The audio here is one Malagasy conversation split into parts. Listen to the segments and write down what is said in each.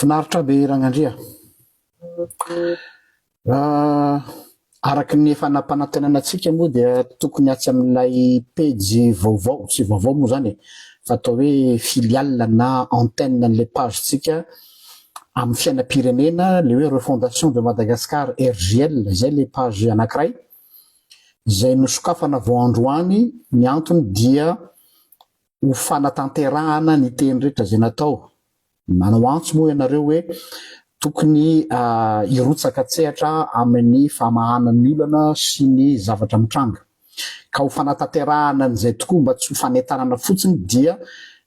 Finaritra be Ragnandria. Araka ny efa nampanantenana antsika moa dia tokony atsy amin'ilay pejy vaovao, tsy vaovao moa izany e, fa atao hoe filiale na antenne an'ilay page-ntsika amin'ny fiainam-pirenena, ilay hoe Refondation de Madagascar RJL, izay ilay page anankiray, izay nosokafana vao androany ny antony dia ho fanatanterahana ny teny rehetra izay natao. Manao antso moa ianareo hoe tokony hirotsaka an-tsehatra amin'ny famahana ny olana sy ny zavatra mitranga. Ka ho fanatanterahana an'izay tokoa mba tsy ho fanentanana fotsiny dia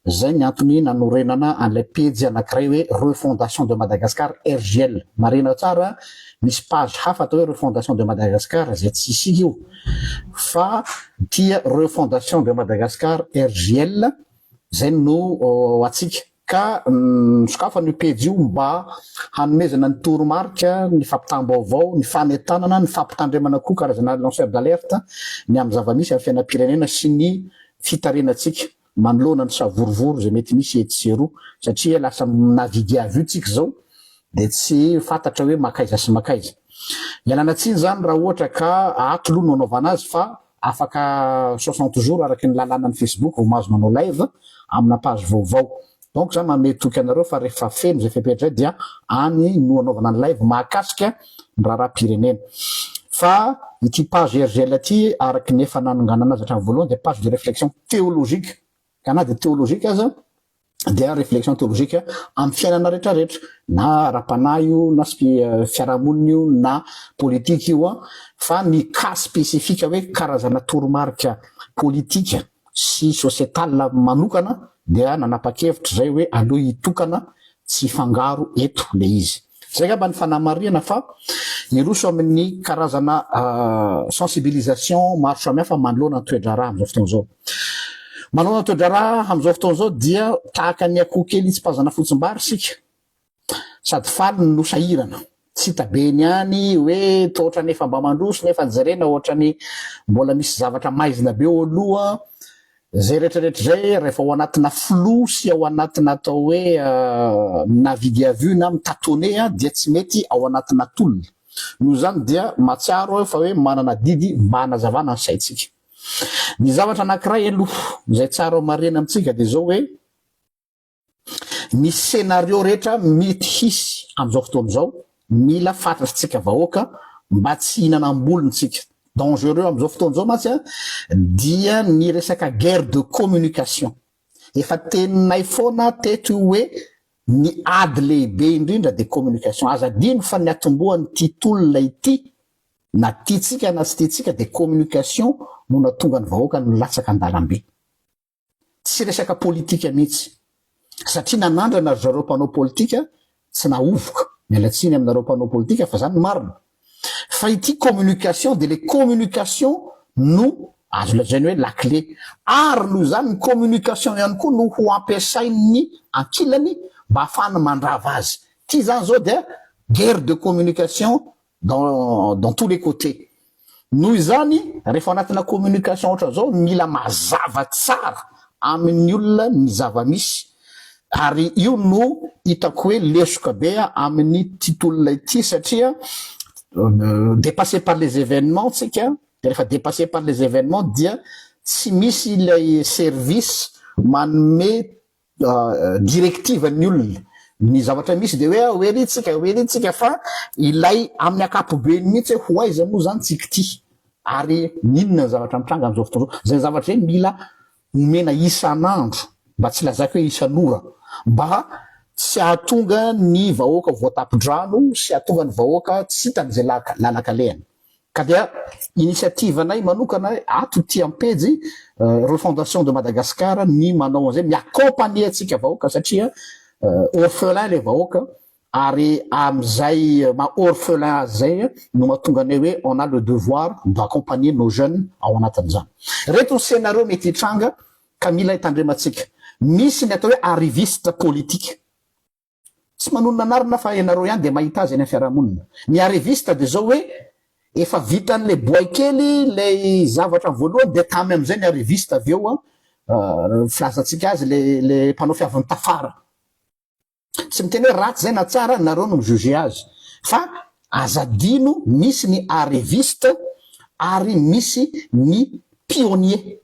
Izay ny antony nanorenana an'ilay pejy anankiray hoe Refondation de Madagascar RJL. Marihina tsara, misy page hafa atao hoe Refondation de Madagascar izay tsy isika io fa tia Refondation de Madagascar RJL izay no antsika. Ka nosokafana io pejy io mba hanomezana ny toromarika, ny fampitam-baovao, ny fanentanana, ny fampitandremana koa karazana lanceur d'alerte ny amin'ny zava-misy amin'ny fiainam-pirenena sy ny fitarenantsika. manoloana ny savorovoro izay mety misy etsy sy eroa satria lasa na vide avy io tsika izao dia tsy fantatra hoe makaiza sy makaiza. Ialana tsiny izany raha ohatra ka ato loha no anaovana azy fa afaka soixante jours araky ny lalanan'ny facebook vao mahazo manao live amina page vaovao Donc za manome toky anareo fa rehefa feno izay fepetra izay dia any no anaovana ny live mahakasika ny raharaham-pirenena. Fa ity page RGL ity araka ny efa nanonganana azy hatramin'ny voalohany dia page de réflexion théologique ka na dia théologique aza dia réflexion théologique amin'ny fiainana rehetrarehetra na ara-panahy io na fiarahamonina io na politika io an fa ny cas spécifique hoe karazana toromarika politika sy societal manokana dia nanapa-kevitra izay hoe aleo hitokana tsy hifangaro eto le izy. Zay angamba ny fanamarihana fa hiroso amin'ny karazana sensibilisation maro samihafa manoloana ny toe-draharaha amin'izao fotoana izao. Manoloana ny toe-draharaha amin'izao fotoana izao dia tahaka ny akoho kely hitsipazana fotsim-bary isika. Sady faly no sahirana. Tsy hita be ny any hoe toa ohatrany efa mba mandroso nefa jerena ohatrany mbola misy zavatra maizina be eo aloha. Izay retraretra izay rehefa ao anatina flou sy ao anatina atao hoe navigue à vue na mi-tatonner dia tsy mety ao anatina tolona. Noho izany dia mahatsiaro aho fa hoe manana adidy mba hanazavana ny saintsika. Ny zavatra anankiray aloha izay tsara homarihina amintsika dia izao hoe, Ny scenario rehetra mety hisy amin'izao fotoana izao mila fatratsika vahoaka mba tsy hihinanam-bolony tsika. Dangereux amin'izao fotoana izao mantsy dia ny resaka guerre de communication. Efa teninay foana teto io hoe ny ady lehibe indrindra dia communication. Aza adino fa ny atombohan'ity tolona ity na tiantsika na tsy tiantsika dia communication no nahatonga ny vahoaka nilatsaka an-dalambe. tsy resaka politika mihitsy satria nanandrana ry zareo mpanao politika tsy nahovoka, miala tsiny aminareo mpanao politika fa zany ny marina, fa ity communication dia le communication no azo lazaina hoe lakile, ary noho izany ny communication ihany koa no ho ampiasain'ny ankilany mba hahafahany mandrava azy, ity zany zao dia guerre de communication dans dans tous les cotes noho izany rehefa anatina communication otrazao mila mazava tsara aminy olona ny zava misy ary io no hitako hoe lesoka be aminy ty tolona ity satria depasse par les evenements tsika de rehefa depasse par les evenements dia tsy misy ilay service manome directive ny olona ny zavatra misy de hoe hoe ry tsika hoe ry tsika fa ilay amin'ny akapobeny mihitsy hoe ho aiza moa zany tsy kty ary n'inona ny zavatra mitranga am'zao fotoana zao zay zavatra zay mila omena isan'andro mba tsy lazaiko hoe isan'ora mba tsy ahatonga ny vahoaka voatapidrano sy ahatonga ny vahoaka tsy hitan'izay laka lalakalehany Ka dia initiative anay manokana ato ity ampejy Refondation de Madagascar ny manao an'izay, mi-accompagner antsika vahoaka satria orphelin ilay vahoaka ary amin'izay maha orphelin azy izay no mahatonga anay hoe on a le devoir d'accompagner nos jeunes ao anatin'izany. Ireto ny scénario mety hitranga ka mila hitandremantsika. Misy ny atao hoe arriviste politique. Tsy manonona anarina fa ianareo ihany dia mahita azy eny amin'ny fiarahamonina. Ny arriviste dia izao hoe efa vitan'ilay boay kely ilay zavatra voalohany dia tamy amin'izay ny arriviste avy eo filazantsika azy ilay mpanao fiavin'ny tafara. Tsy miteny hoe ratsy izay na tsara ary nareo no mi-juger azy fa aza adino misy ny arriviste ary misy ny pionnier.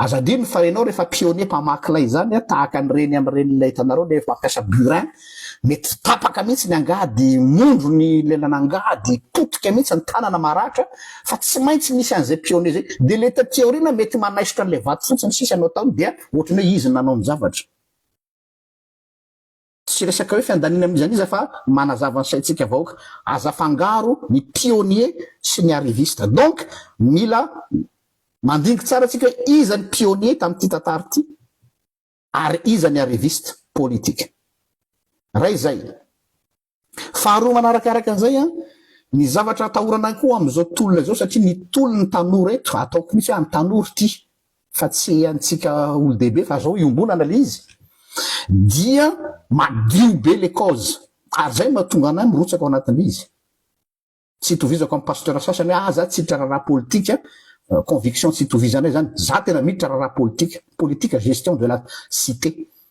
Aza adino fa enao refa pionnier mpamaky lay zany a tahaka ny reny am reny lay hitanareo lay mampiasa burin mety tapaka mihitsy ny angady mondro ny lelan angady potika mihitsy ny tanana maratra fa tsy maintsy misy anzay pionnier zay de le taty aoriana mety manaisotra anle vato fotsiny sisa no ataony dia ohatran'ny hoe izy no nanao ny zavatra. Tsy resaka hoe fiandaniana amin'iza n'iza fa manazava ny saintsika vahoaka. Aza afangaro ny pionnier sy ny arriviste. Donc mila mandiniky tsara tsika hoe iza ny pionnier tamin'ity tantara ity ary iza ny arriviste politique. Ray zay. Faharoa manaraka araka an'izay an, ny zavatra atahorana koa amin'izao tolona izao satria ny tolon'ny tanora eto, ataoko mihitsy hoe an'ny tanora ity, fa tsy antsika olo-dehibe fa zao iombonana le izy dia madio be le cause ary zay mahatonga anay mirotsaka ao anatin'le izy tsy itovizako amin'ny pasteur sasany hoe ah za tsy hiditra raharaha politika euh, conviction tsy itovizanay zany za tena miditra raharaha politika politika gestion de la cité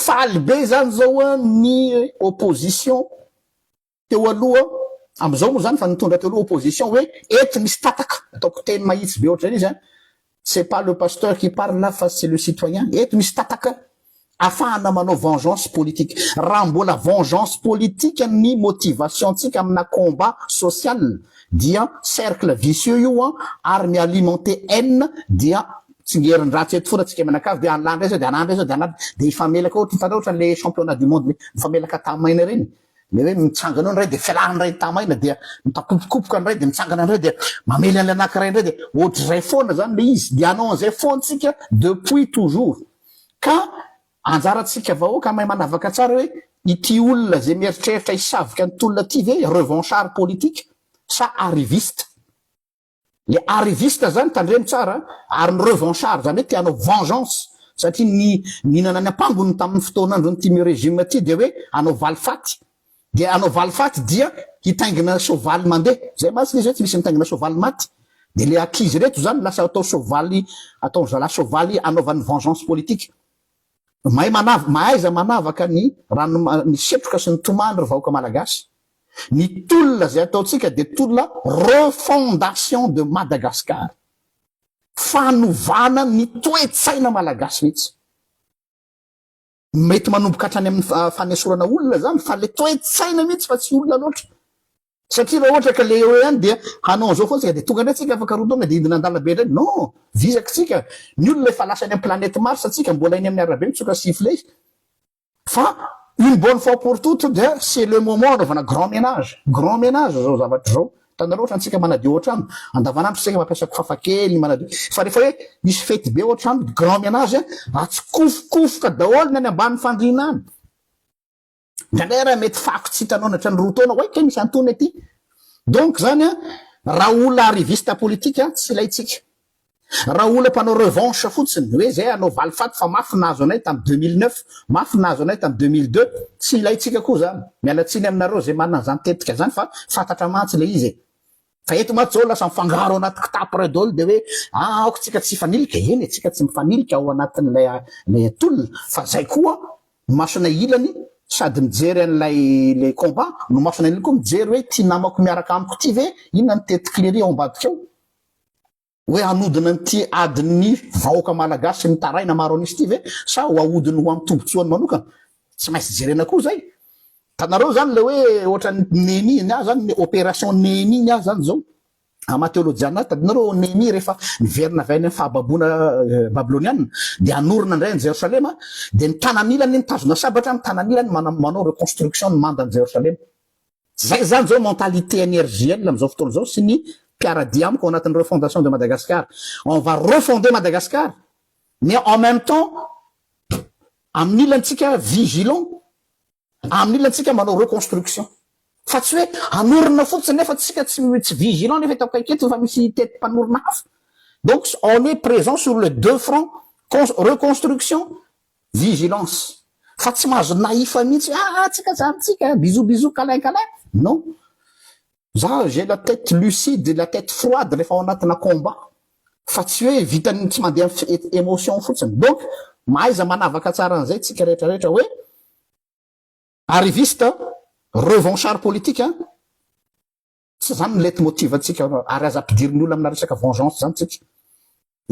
Faly be zany zao ny opposition teo aloha, amizao moa zany fa nitondra teo aloha opposition hoe eto misy tataka, ataoko teny mahitsy be ohatr'izay le izy an, c'est pas le pasteur qui parle là fa c'est le citoyen, eto misy tataka afahana manao vengeance politique, raha mbola vengeance politique ny motivation ntsika amina combat social dia cercle vicieux io an ary mi-alimenter haine dia tsingerin-dratsy eto foana tsika mianakavy dia an'la ndray zao dia an'la ndray zao dia an'la dia hifamelaka ohatra hitanao ohatra an'le championnat du monde le mifamelaka tamaina ireny le hoe mitsangana eo ny ray dia fialany ny ray ny tamaina dia mitakopokopoka ny ray dia mitsangana ny ray dia mamely an'le anankiray indray dia ohatr'izay foana zany le izy dia anao an'izay foana tsika depuis toujours ka anjarantsika vahoaka mahay manavaka tsara hoe ity olona zay mieritreritra hisavika ny tolona ity ve revanchard politique sa arriviste Le arriviste zany tandremo tsara an! Ary ny revanchard zany hoe te hanao vengeance satria ny nihinana ny ampangony tamin'ny fotoan'andron'ny time regime ty dia hoe hanao valifaty! Dia hanao valifaty dia hitaingina soavaly mandeha! Zay mantsy le zay tsy misy mitaingina soavaly maty! Dia le ankizy reto zany lasa atao soavaly ataon'ny zalahy soavaly anaovany vengeance politique! Mahay manavaka, mahaiza manavaka ny rano, ny setroka sy ny tomany ry vahoaka Malagasy. Ny tolona izay ataontsika dia tolona refondation de Madagascar. Fanovana ny toe-tsaina Malagasy mihitsy. Mety manomboka hatrany amin'ny fanesorana olona izany fa ilay toe-tsaina mihitsy fa tsy olona loatra. Satria raha ohatra ka le eo ihany dia hanao an'izao foana tsika dia tonga indray tsika afaka roa taona dia hidina an-dalabe indray non! Vizaka tsika! Ny olona efa lasa any amin'ny planète Mars tsika mbola eny amin'ny arabe mitsoka sifflet fa une bonne fois pour toute dia c'est le moment hanaovana grand ménage! Grand ménage izao zavatra izao! Hitanareo ohatra antsika manadio ao an-trano andavanandro isika mampiasa kofafa kely manadio fa rehefa hoe misy fety be ao an-trano grand ménage atsikofokofoka daholo ny any ambany fandriana any! Indraindray ary mety fako tsy hitanao nandritra ny roa taona hoe kay misy antonony aty. Donc zany an, raha olona arriviste politique an, tsy ilaintsika. Raha olona mpanao revanche fotsiny, hoe zay hanao valifaty fa mafy nahazo anay tam 2009, mafy nahazo anay tam 2002, tsy ilaintsika koa zany. Miala tsiny aminareo zay manana an'izany tetika zany fa fantatra mantsy le izy e. Fa eto mantsy zao lasa mifangaro anaty kitapo ray dol dia hoe ah aoka tsika tsy hifanilika, eny e tsika tsy mifanilika ao anatin'ilay ilay atolona fa zay koa masonay ilany sady mijery an'ilay le combat no masonay ilany koa mijery hoe ty namako miaraka amiko ty ve inona ny tête clerie ao ambadika ao. Hoe hanodina an'ity adin'ny vahoaka malagasy sy mitaraina maro an'isa ity ve sa ho ahodiny ho amin'ny tombotsoany manokana? Tsy maintsy jerena koa izay. Hitanareo izany ilay hoe ohatran'ny Nehemia, ny ahy izany ny opération Nehemia ny ahy izany izao, ama teolojiana, tadinareo ao Nehemia rehefa niverina avy any amin'ny fahababoana babyloniana dia hanorina indray an'i Jerosalema dia ny tanan'ilany mitazona sabatra, ny tanan'ilany manao reconstruction ny mandan'i Jerosalema. Zay izany zao mentalité an'i RJL amin'izao fotoana izao sy ny mpiaradia amiko ao anatin'ny refondation de Madagascar. On va refonder Madagascar mais en même temps amin'ny ilantsika vigilant, amin'ny ilantsika manao reconstruction. Fa tsy hoe hanorina fotsiny nefa tsika tsy tsy vigilant nefa eto akaiky eto efa misy hitety mpanorina hafa. Donc on est présent sur les deux fronts, con- reconstruction Vigilance fa tsy mahazo naif mihitsy hoe ah tsika zany tsika bisous bisous câlin câlin non za j'ai la tête lucide et la tête froide rehefa ao anatina combat fa tsy hoe vitan'ny tsy mandeha amin'ny émotion fotsiny donc mahaiza manavaka tsara an'izay tsika rehetra rehetra hoe arriviste revanchard politique Tsy izany ny leitmotiv antsika ary aza ampidirin' ny olona amina resaka vengeance izany tsika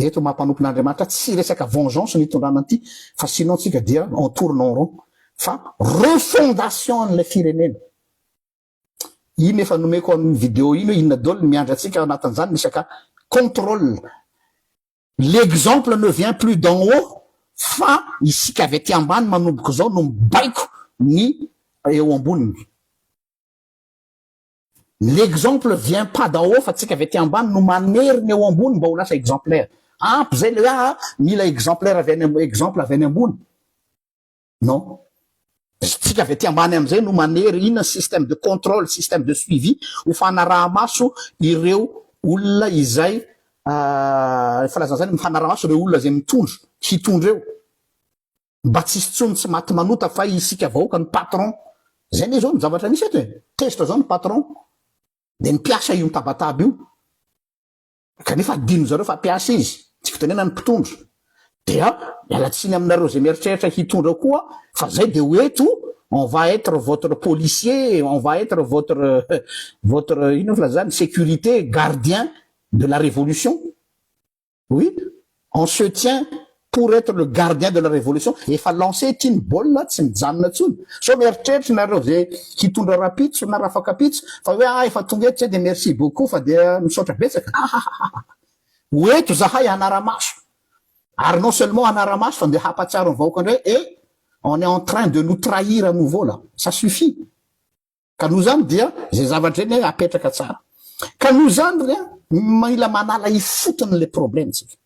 eto maha mpanompon' Andriamanitra, tsy resaka vengeance no itondrana an'ity fa sinon tsika dia on tourne en rond fa refondation an'ilay firenena. Iny efa nomeko an'iny video iny hoe inona daholo ny miandry antsika ao anatin'izany resaka controle. L'exemple ne vient plus d'en haut fa isika avy aty ambany manomboka izao no mibaiko ny eo amboniny. L'exemple vient pas d'en haut fa tsika avy aty ambany no manery ny eo ambony mba ho lasa exemplaire. Ampy zay le hoe aa mila exemplaire avy any am exemple avy any ambony. Non. Tsika avy aty ambany amzay no manery inona ny système de contrôle, système de suivi ho fanaraha-maso ireo olona izay aa ny filazana zany mifanaraha-maso ireo olona zay mitondra, hitondra eo. mba tsisy tsony tsy maty manota fa isika vahoaka no patron zay ne zao no zavatra misy eto e tezitra zao ny patron de ny mpiasa io mitabataba io kanefa adino zareo fa mpiasa izy tsy fitenena ny mpitondra dia miala tsiny aminareo zay mieritreritra hitondra koa fa zay de ho eto on va être votre policier on va être votre votre ino filazany sécurité gardien de la révolution Oui, on se tient pour etre le gardien de la révolution, efa lance ity ny baolina tsy mijanona intsony, sao mieritreritra nareo ve hitondra rapitso na rafakapitso fa hoe ah efa tonga eto zay dia merci beaucoup fa dia misaotra betsaka ahahahahha ho eto zahay hanara-maso ary non seulement hanara-maso fa dia hampatsiaro ny vahoaka indray eh on est en train de nous trahir à nouveau là, ça suffit. ka noho izany dia izay zavatra eny hoe apetraka tsara ka noho izany re mila manala ifotony le probleme tsika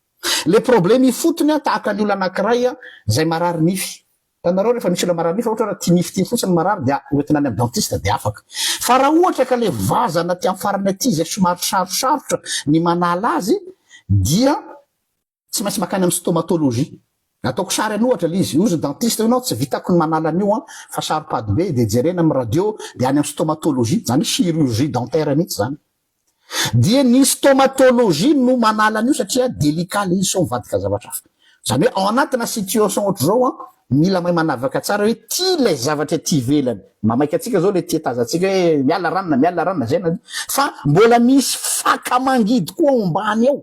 le probleme ifotony a tahaka ny olo anakiray a zay marary nify tanareo rehefa misy olo marary nify ohatra ti nify ti fotsiny marary dia oentina any am dentiste dia afaka fa raha ohatra ka le vazana ti am farany aty zay somary sarosarotra ny manala azy dia Tsy maintsy makany amin'ny stomatologie. Ataoko sary any ohatra ilay izy. Ozy dentiste hoy ianao tsy vitako ny manala an'io an, fa saro-pady be dia jerena amin'ny radio dia any amin'ny stomatologie, izany hoe chirurgie dentaire mihitsy izany. Dia ny stomatologie no manala an'io satria délicat ilay izy sao mivadika zavatra hafa. Izany hoe ao anatina situation ohatr'izao an, mila mahay manavaka tsara hoe ity ilay zavatra ety ivelany, mamaika antsika izao ilay tia hitaza antsika hoe miala ranona, miala ranona, izay na izay, fa mbola misy faka mangidy koa ao ambany ao.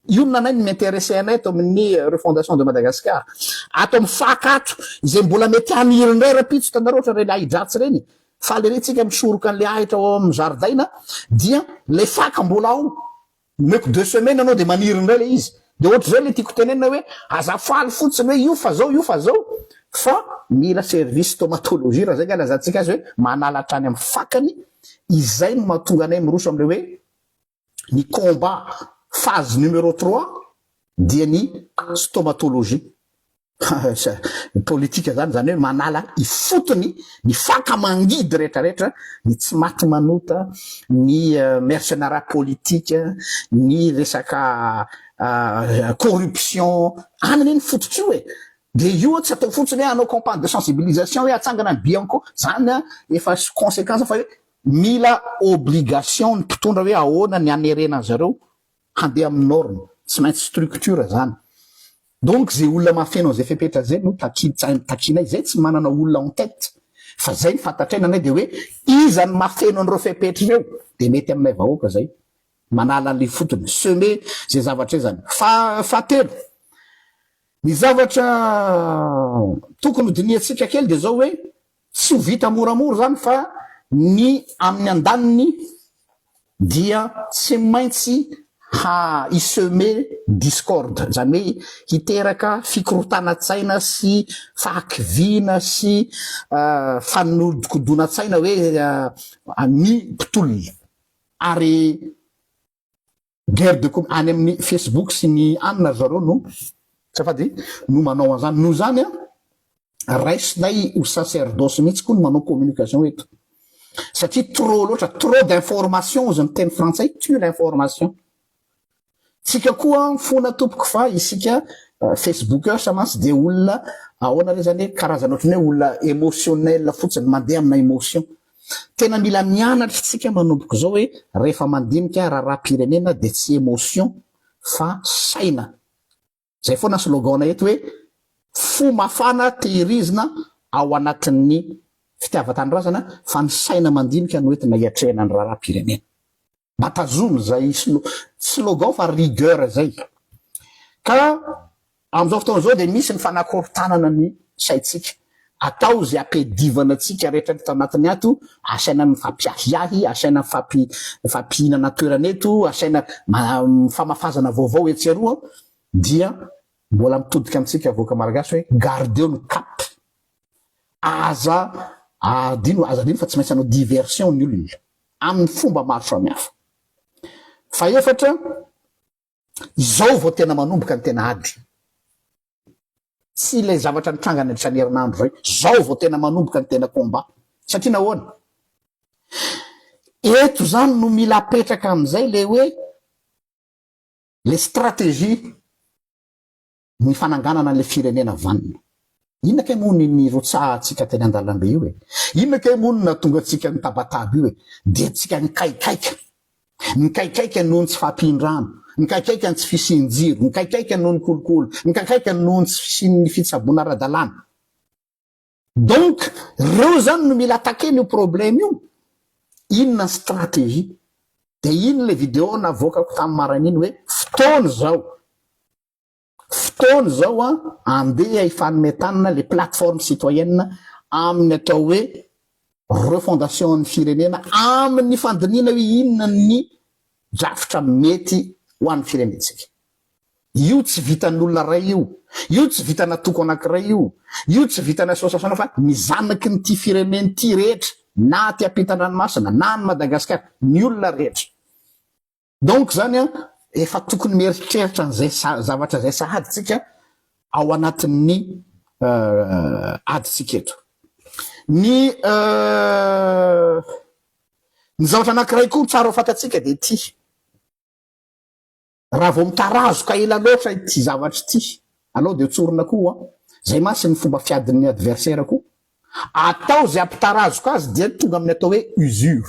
Inona anay no mi-interesse anay eto amin'ny Refondation de Madagascar? Ato amin'ny fac ato, izay mbola mety haniry indray rahampitso, hitanareo ohatra ireny ahi-dratsy ireny, faly ery tsika misoroka an'ilay ahitra ao amin'ny zaridaina, dia ilay fac mbola ao, omeko deux semaines anao dia maniry indray ilay izy. Dia ohatr'izay ilay tiako tenenina hoe, aza faly fotsiny hoe io fa zao, io fa zao, fa mila service stomatologie raha izay nga ilazantsika azy hoe, manala hatrany amin'ny fac-ny, izay no mahatonga anay miroso amin'ilay hoe, Ny combat, phase numero trois, dia ny stomatologie. Ny politika izany, izany hoe manala ifotony ny faka mangidy rehetra rehetra, ny tsy maty manota, ny mercenara politika, ny resaka corruption, any anie ny fototry io e! Dia io tsy atao fotsiny hoe hanao campagne de sensibilisation hoe atsangana ny bianco, izany efa conséquence fa hoe Mila obligation ny mpitondra hoe ahoana ny hanerena an zareo handeha amin'ny norme. Tsy maintsy structure zany. Donc ze olona mahafeno an'ze fepetra ze no takin tsain takinay. Zay tsy manana olona en tête fa zay ny fantatray nanay de hoe iza no mahafeno an'ireo fepetra ireo de mety aminay vahoaka zay manala an'le fotony semer ze zavatra zany. Fa fahatelo ny zavatra tokony ho dinihantsika kely de zao hoe Tsy ho vita moramora izany fa ny amin'ny andaniny dia tsy maintsy hi-semer discorde, izany hoe hiteraka fikorontanan-tsaina sy fahakiviana sy fanodikodonan-tsaina hoe ny mpitolona ary. Guerre de com any amin'ny Facebook sy ny anona ry zareo no azafady no manao an'izany. Noho izany an, raisinay ho sacerdoce mihitsy koa ny manao communication eto satria trop loatra, trop d'information hozy ny teny frantsay tue l'information. Tsika koa mifona tompoko fa isika Facebookers mantsy dia olona ahoana re izany e, karazana ohatran'ny hoe olona emotionnel fotsiny, mandeha amina emotion. Tena mila mianatra isika manomboka izao hoe rehefa mandinika raharaham-pirenena dia tsy emotion fa saina. Izay foana slogan-nay eto hoe fo mafana tehirizina ao anatin'ny fitiavan-tanindrazana fa ny saina mandinika no entina hiatrehana ny raharaham-pirenena. Mampitazona izay slogan fa rigueur izay. Ka amin'izao fotoana izao dia misy ny fanakorontanana ny saintsika. Atao izay ampiadivana antsika rehetra eto anatiny ato, asaina mifampiahiahy, asaina mifampihinana toerana eto, asaina mifamafazana vaovao etsy eroa, dia mbola mitodika amintsika vahoaka Malagasy hoe gardeo ny cap. Aza adino, aza adino fa tsy maintsy hanao diversion ny olona. amin'ny fomba maro samihafa. Fahefatra, izao vao tena manomboka ny tena ady. Tsy ilay zavatra nitranga nandritra ny herinandro izay. Izao vao tena manomboka ny tena combat. Satria nahoana? Eto izany no mila apetraka amin'izay ilay hoe ilay stratégie. ny fananganana an'ilay firenena vanona. Inona kay moa ny nirotsahantsika teny an-dalambe io e? Inona kay moa no nahatonga antsika nitabataba io e? Dia antsika nikaikaika. Nikaikaika noho ny tsy fahampian-drano, nikaikaika ny tsy fisian-jiro, nikaikaika noho ny kolikoly, nikaikaika noho ny tsy fisian'ny fitsaboana ara-dalàna. Donc reo zany no mila attaquer n'io problème io, inona ny stratégie? De iny le vidéo navoakako tam maraina iny hoe fotoana zao, fotoana zao an andeha hifanome tanana le plateforme citoyenne aminy atao hoe refondation an'ny firenena aminy fandinihana hoe inona ny drafitra mety ho an'ny firenentsika. Io tsy vitan'olona iray io. Io tsy vitana toko anankiray io. Io tsy vitan'ny association fa ny zanaky ny ity firenena ity rehetra na aty ampitandranomasina na any Madagascar ny olona rehetra. Donc zany an efa tokony mieritreritra an'izay zavatra izay sahady tsika ao anatin'ny adintsika eto. Ny ny zavatra anankiray koa tsara ho fantatsika dia ity. Raha vao mitarazoka ela loatra ity zavatra ity anao dia tsorina koa hoa. Zay mantsy ny fomba fiadin'ny adversaire koa. Atao zay ampitarazoka azy dia tonga amin'ny atao hoe usure.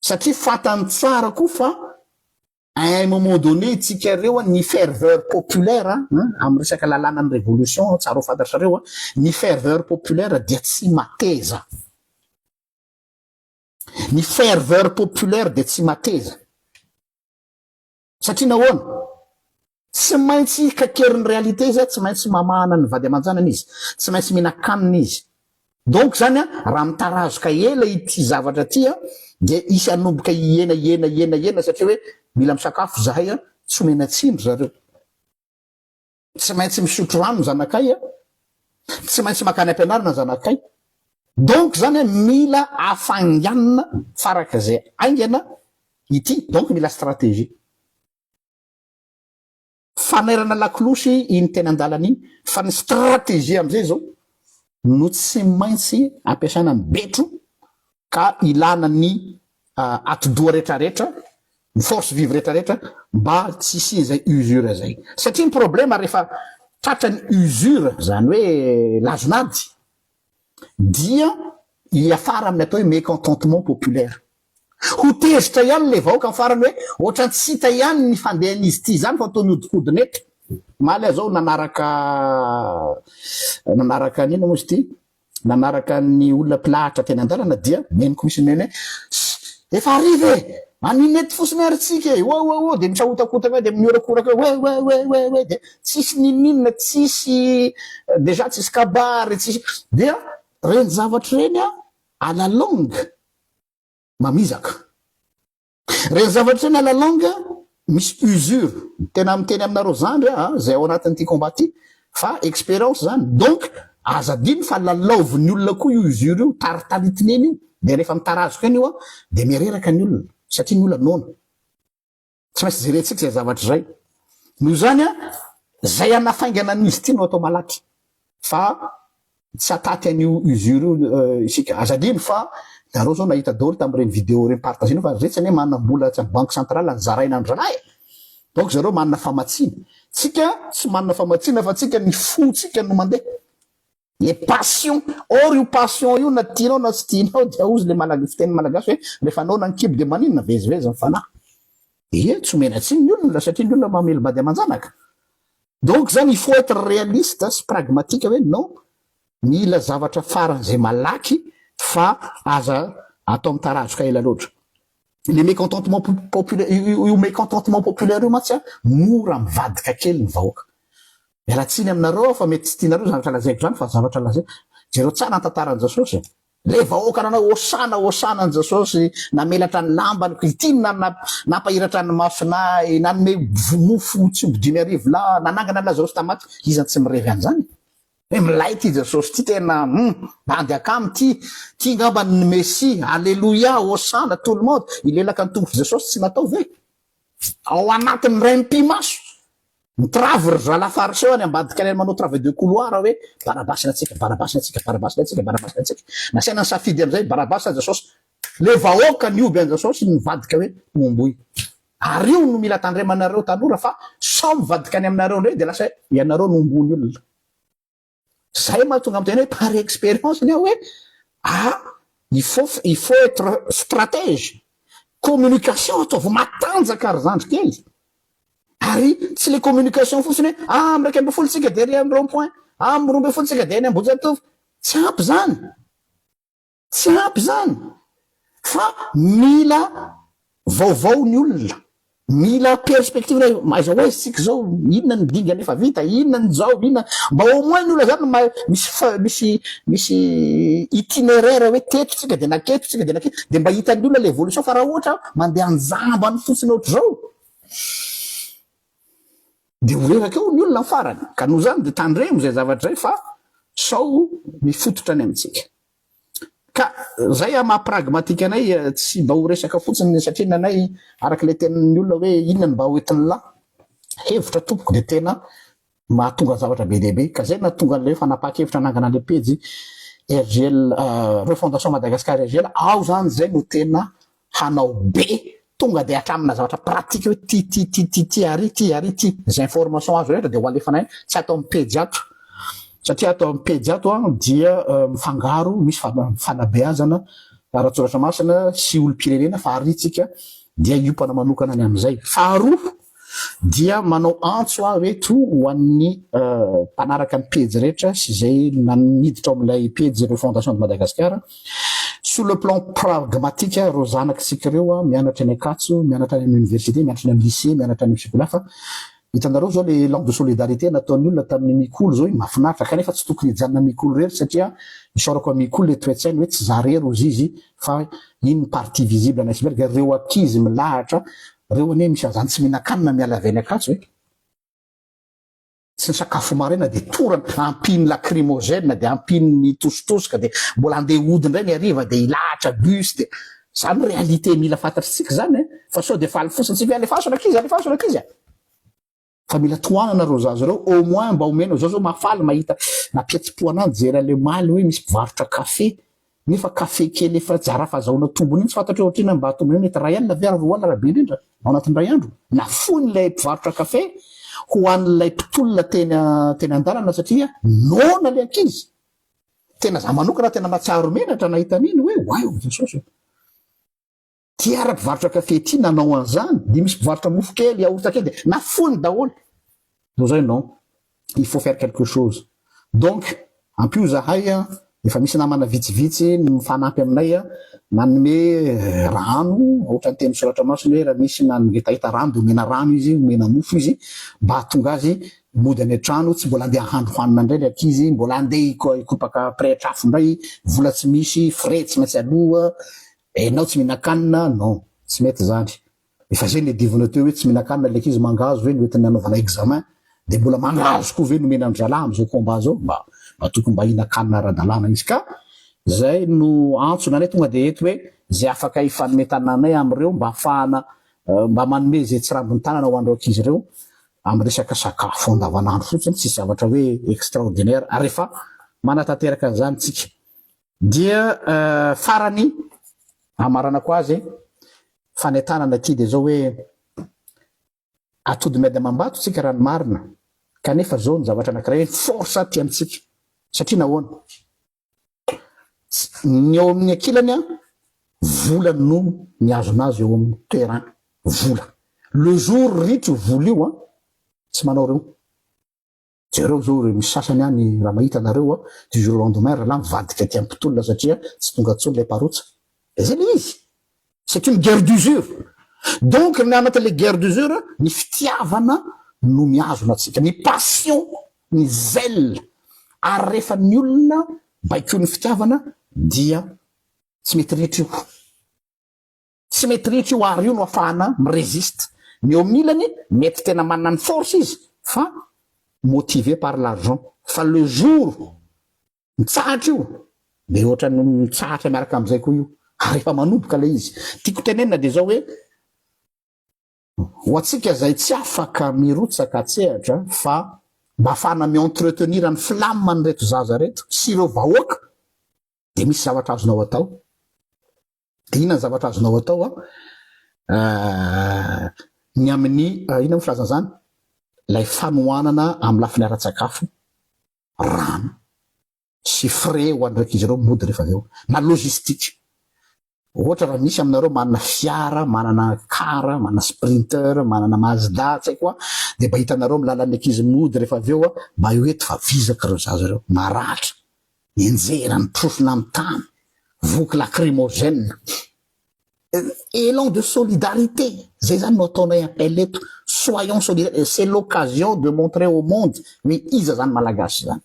Satria fatany tsara koa fa à un moment donné tsika reo an ny ferveur populaire an amin'ny resaka lalanan'ny revolution an tsara ho fantatrareo an ny ferveur populaire dia tsy mateza. Ny ferveur populaire dia tsy mateza. Satria nahoana? Tsy maintsy kaikerin'ny réalité izy, tsy maintsy mamahana ny vady aman-janany izy, tsy maintsy mihinan-kanina izy. Donc zany raha mitarazoka ela ity zavatra ity dia hisy hanomboka hihena hihena hihena hihena satria hoe mila misakafo zahay, tsy omena tsindry zareo. Tsy maintsy misotro rano ny zanakay a! Tsy maintsy makany ampianarana ny zanakay! Donc zany a mila afainganina faraka zay aingana ity donc mila stratégie. Fanairana lakolosy iny teny andalana iny fa ny stratégie amzay zao no tsy maintsy ampiasaina ny betro ka ilana ny atidoha rehetra rehetra ny force vive rehetra rehetra mba tsy hisian zay usure zay satria ny problema rehefa tratra ny usure zany hoe lazon'ady dia hiafara amin'ny atao hoe mécontentement populaire ho tezitra ihany le vahoaka ny farany hoe ohatra ny tsy hita ihany ny fandehan'izy ity izany fa toa mihodinkodina eto maly aho zao nanaraka nanaraka an'inona moa izy ity Nanaraka ny olona mpilahatra teny an-dalana dia neny koa izy neny hoe, Efa hariva e! An'inona eto fotsiny ary tsika e! Oa oa oa! Dia mitrahotakotaka eo dia mihorakoraka eo hoe, oe oe oe oe! Dia tsisy ninoninona, tsisy déjà tsisy kabary, tsisy. Dia ireny zavatra ireny à la longue mamizaka. Reny zavatra reny à la longue misy usure. Tena miteny aminareo zandry aho a, zay ao anatin'ity combat ty fa expérience zany. Donc aza adino fa lalaovin'ny olona koa io usure io, taritaritin'eny io. Dia rehefa mitarazoka eny io a, dia mireraka ny olona satria ny olona noana. Tsy maintsy jerentsika izay zavatra izay. Noho izany a, izay hanafaingana an'izy ity no atao malaky fa Tsy hataty an'io usure io isika. Aza adino fa nareo zao nahita daholo tamin'ireny video ireny partagenao fa retsy anie manana mbola tsy amin'ny banque centrale any zaraina andry zalahy e! Donc zareo manana famatsiana. Tsika tsy manana famatsiana fa tsika ny fo tsika no mandeha. Le passion! Or io passion io na tianao na tsy tianao dia ozy le malag fiteny malagasy hoe refa anao nankibo dia maninona? Vezivezy ny fanahy. Ie, tsy omena tsiny ny olona satria ny olona mamely bady aman-janaka. Donc zany il faut être réaliste sy pragmatique hoe non, mila zavatra faran'izay malaky fa aza atao mitarazoka ela loatra. Le mécontentement populaire, io mécontentement populaire io mantsy mora mivadika kely ny vahoaka. Miala tsiny aminareo aho fa mety tsy tianareo izany zavatra lazaiko izany fa zavatra lazaiko. Jereo tsara ny tantaran'i Jasosy e. Ilay vahoaka nanao Hosana Hosana an'i Jesosy, namelatra ny lambany ko ity no nampahiratra ny masina ahy, nanome mofo tsy omby dimy arivo lahy, nanangana an'i Lazarosy tamin'ny maty, iza no tsy mirevy an'izany e? Milay ity Jesosy ity tena hum! Bandy akama ity, ity ngamba ny Mesia, Aleloia, Hosana, tout le monde, hilelaka ny tongotr'i Jesosy tsy natao ve? Ao anatin'ny raim-pimaso! Mitravy ry zalahy fariseo any ambadika any manao travail de couloir hoe barabasy ny antsika, barabasy ny antsika, barabasy ny antsika, barabasy ny antsika. Nasaina nisafidy amin'izay, barabasy sa Jasaosy? Le vahoaka nihoby an'i Jasaosy nivadika hoe homboy. Ary io no mila tandremanareo tanora fa sao mivadika any aminareo indray dia lasa hoe ianareo no homboin'ny olona. Zay mahatonga amin'ny tena hoe par expérience ny ahy hoe ah il faut il faut être stratège, communication ataovy matanjaka ry zandry kely, ary tsy le communication fotsiny hoe ah amin'ny iraika ambin'ny folo tsika dia ery amin'ny rond point, ah amin'ny roa ambin'ny folo tsika dia eny Ambohijatovo, tsy ampy zany. Tsy ampy izany fa mila vaovao ny olona, mila perspective hoe aiza ho aiza isika izao, inona ny dingana efa vita, inona ny zao, inona, mba au moins ny olona izany mahay misy fa misy misy itinéraire hoe teto isika dia naketo isika dia naketo dia mba hitan'ny olona ilay évolution fa raha ohatra mandeha an-jambany fotsiny ohatr'izao. dia ho reraka eo ny olona ny farany ka noho izany dia tandremo izay zavatra izay fa sao mifototra any amintsika ka izay ah maha pragmatique anay tsy mba ho resaka fotsiny satria ny anay araka ilay tenin'ny olona hoe inona ny mba ho entin'la hevitra tompoko dia tena mahatonga zavatra be dia be ka izay nahatonga an'ilay hoe fanapahan-kevitra hanangana ilay pejy RGL euh, refondation Madagascar RGL aho izany izay no tena hanao be tonga dia hatramina zavatra pratique hoe ty ty ty ty ty ary ty ary ty zay information azo rehetra dia ho alefana eny tsy ato amin'ny pejy ato satria ato amin'ny pejy ato an dia mifangaro misy fanabeazana ara-tsoratra masina sy olom-pirenena fa ary tsika dia hiompana manokana ny amin'izay faharoa Dia manao antso aho eto ho an'ny mpanaraka ny pejy rehetra sy izay miditra ao amin'ilay pejy ireo Fondation de Madagascar, sur le plan pragmatique ireo zanako isika ireo mianatra eny Ankatso, mianatra any amin'ny université, mianatra any amin'ny lycée, mianatra any amin'ny Ficola fa hitanareo izao ilay élan de solidarité nataon'ny olona tamin'ny Mikolo izao iny mahafinaritra, kanefa tsy tokony hijanona Mikolo irery satria isaorako an'i Mikolo ilay toe-tsainy hoe tsy izaho irery hozizy Fa inn ny partie visible an'i iceberg a? Reo ankizy milahatra reo anie misy azany tsy mihinan-kanina miala avy any Ankatso e! Tsy nisakafo maraina dia torana, ampiany lacrymogène dia ampiany mitositosika dia mbola andeha hody indray ny hariva dia hilahatra bus dia zany réalité mila fantatr'tsika zany e! Fa sao dia faly fotsiny tsika hoe alefaso ny ankizy, alefaso ny ankizy a! Fa mila tohanana reo zaza reo au moins mba omenao zao zao mahafaly mahita mampihetsi-po anah mijery anle omaly hoe misy mpivarotra café nefa café kely efa tsy arafa azahoana tombony iny tsy fantatreo otrina mba tombony mety ray alina ve ary roa alina raha be indrindra ao anatin'ny ray andro nafoiny ilay mpivarotra café ho an'ilay mpitolona teny teny andalana satria noana le ankizy tena za manokana tena mahatsiaro menatra nahita an'iny hoe wai jesosy Ty ara mpivarotra kafe ty nanao anzany de misy mpivarotra mofo kely yaourt kely de nafoiny daholo no zay non il faut faire quelque chose donc ampio zahay a efa misy namana vitsivitsy mifanampy aminay a manome rano ohatrany teny soratra masina hoe raha misy na ngetaheta rano de omena rano izy omena mofo izy mba hatonga azy mody any an-trano tsy mbola andeha handro hanina indray le ankizy mbola andeha hikopaka près trafo indray vola tsy misy frais tsy maintsy aloha Eh enao tsy mihinankanina non tsy mety zany efa zay le divinao teo hoe tsy mihinankanina le ankizy mangahazo ve ny hoentiny anaovana examen de mbola mangahazo koa ve no omena andralahy amzao combat zao mba mba tokony mba hihinankanina aradalana izy ka zay no antsona anay tonga de eto hoe zay afaka hifanome tanana anay amreo mba afahana mba manome zay tsirambiny tanana ho anreo ankizy reo am resaka sakafo andavanandro fotsiny tsisy zavatra hoe extraordinaire ary efa manatanteraka anzany tsika Dia farany, hamaranako azy, fanentanana ity dia zao hoe, atody miady amam-bato tsika raha ny marina, kanefa zao ny zavatra anakiray hoe force aty amintsika, satria nahoana? ny ao amin'ny ankilany an, vola no mihazona azy eo amin'ny terrain, vola, le jour ritra io vola io an, tsy manao reo. Jereo zao reo misy sasany any raha mahita anareo a du jour au lendemain ralahy mivadika aty ampitolona satria tsy tonga tsony le parotsa de zay le izy c'est une guerre d'usure donc ny anaty le guerre d'usure ny fitiavana no mihazona atsika ny passion ny zèle ary refa ny olona baikoin'ny fitiavana dia tsy mety rehetra io. Tsy mety rihitra io art io no afahana mi-resiste. Ny eo amin'ny ilany mety tena manana ny force izy fa motivé par l'argent fa le jour mitsahatra io dia ohatran'ny mitsahatra miaraka amin'izay koa io ary efa manoboka ilay izy. Tiako tenenina dia izao hoe ho antsika izay tsy afaka mirotsaka an-tsehatra fa mba afahana mi-entretenir ny flamme an'ireto zaza ireto sy ireo vahoaka dia misy zavatra azonao atao Dia inona ny zavatra azonao atao an? ny amin'ny inona moa filaza an'izany? Ilay fanohanana amin'ny lafiny ara-tsakafo, rano sy frais ho an'ireo ankizy ireo mody rehefa avy eo, na logistique. Ohatra raha misy aminareo manana fiara, manana car, manana sprinter, manana mazda, tsy haiko an, dia mba hitanareo amin'ny lalan'ny ankizy mody rehefa avy eo mba eo eto fa vizaka ireo zaza ireo, maratra. Enjehera ny porofo nanontany, voky lacrymogène. Elan de solidarité, zay zany no ataonay appel eto, soyons solidaires, c'est l'occasion de montrer au monde hoe iza zany Malagasy zany.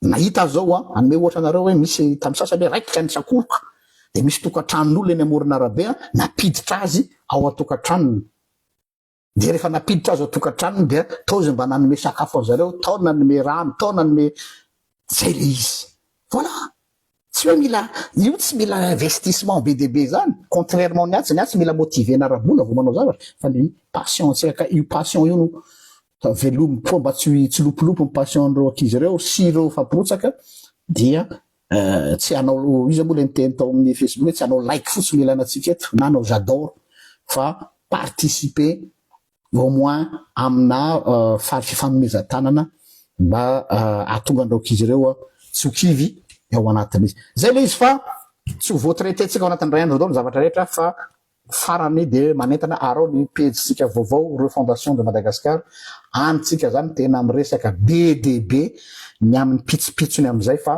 Nahita azy zao an, hanome ohatra anareo hoe misy tamin'ny sasany hoe raikitra ny tsakoriko, dia misy tokantranon'olona eny amoron'arabe an, nampiditra azy ao an-tokantranony. Dia rehefa nampiditra azy ao tokantranony dia tao izy mba nanome sakafo an zareo, tao nanome rano, tao nanome zay le izy. Voilà! Tsy hoe mila, io tsy mila investissement be dia be zany, contrairement ny atsy, ny atsy mila motiver-na ara bola vao manao zavatra, fa ny passion antsika ka, io passion io no velomiko koa mba tsy tsy lopolopy ny passion an'ireo ankizy ireo sy ireo efa mpirotsaka dia Eh, tsy hanao iza moa ilay niteny tao amin'ny Facebook hoe tsy hanao like fotsiny ilana antsika eto na hanao j'adore fa participer au moins amina eh, fary fifanomezan-tanana mba eh, hahatonga an'ireo ankizy ireo eh, tsy ho kivy ao anatin'izy. Izay ilay izy fa tsy ho voatraiter-tsika ao anatin'ny iray andro daholo ny zavatra rehetra fa Farany dia manentana arao ny pejintsika vaovao Refondation de Madagascar any tsika zany tena miresaka be dia be ny aminy pitsopitsony amizay fa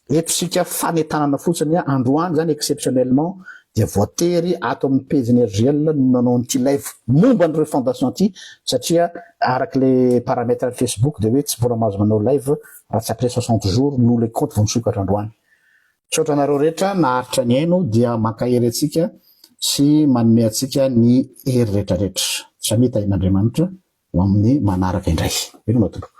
eto sika fanentanana fotsiny androany zany exceptionnellement dia voatery ato aminy pejiny RJL no nanao an'ity live momba ny refondation ity satria araky le paramètre any Facebook dia hoe tsy mbola mahazo manao live raha tsy après soixante jours no le compte vao misokatra androany Misaotra anareo rehetra naharitra nihaino dia mankahery antsika sy manome antsika ny hery retraretra. Samia tahin'Andriamanitra ho amin'ny manaraka indray. Veloma tompoko.